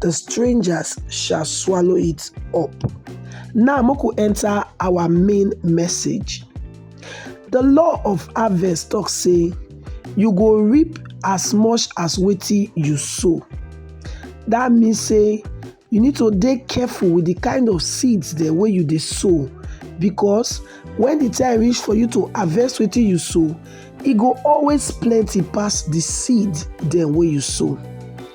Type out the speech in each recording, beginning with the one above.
the strangers shall swallow it up. Now, Moko enter our main message. The law of harvest talk say, you go reap as much as wetin you sow. That means say you need to dey careful with the kind of seeds dem wey you dey sow because when the time reach for you to harvest wetin you sow, e go always plenty pass the seed dem wey you sow.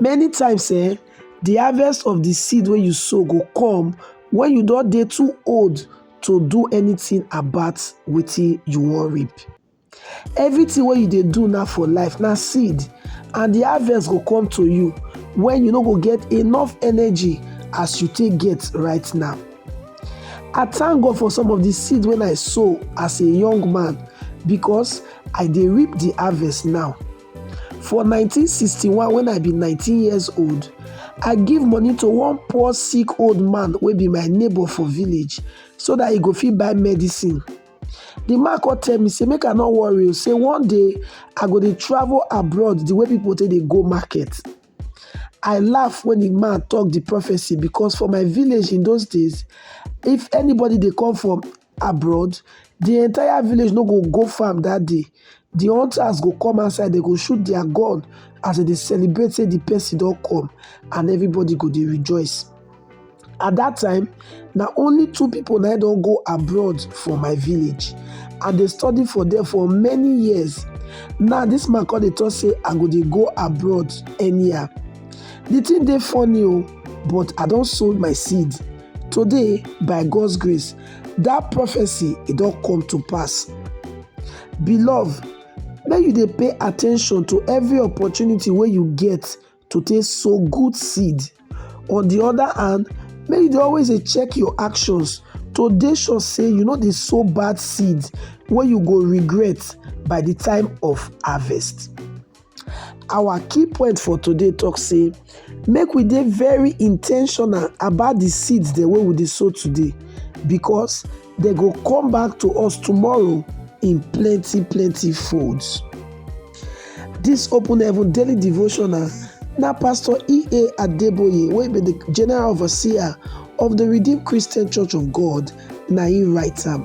many times um the harvest of the seed wey you sow go come when you don dey too old to do anything about wetin you wan reap everything wey you dey do now for life na seed and the harvest go come to you when you no go get enough energy as you take get right now i thank god for some of the seed wey i sow as a young man because i dey reap the harvest now For 1961 when I be 19 years old, I give money to one poor sick old man wey be my neighbor for village so that he go fit buy medicine. The man come tell me say make I no worry o, say one day I go dey travel abroad the way people take dey go market. I laugh when the man talk the prophecy because for my village in those days, if anybody dey come from abroad the entire village no go go farm that day the hunters go come outside they go shoot their gun as they dey celebrate say the person don come and everybody go dey rejoice at that time na only two people na don go abroad for my village and they study for there for many years now this man come dey talk say i go dey go abroad anyhow the thing dey funny o oh, but i don sow my seed Today, by God's grace, that prophecy it don't come to pass. Beloved, may you dey pay attention to every opportunity where you get to take sow good seed. On the other hand, may you always dey check your actions to dey sure say you know they sow bad seed where you go regret by the time of harvest. Our key point for today talk say make we dey very intentional about the seeds dem wey we dey sow today because they go come back to us tomorrow in plenty plenty folds. This open heaven daily devotional na Pastor E.A. Adeboye wey be the general overseer of the Redeemed Christian Church of God na him write am.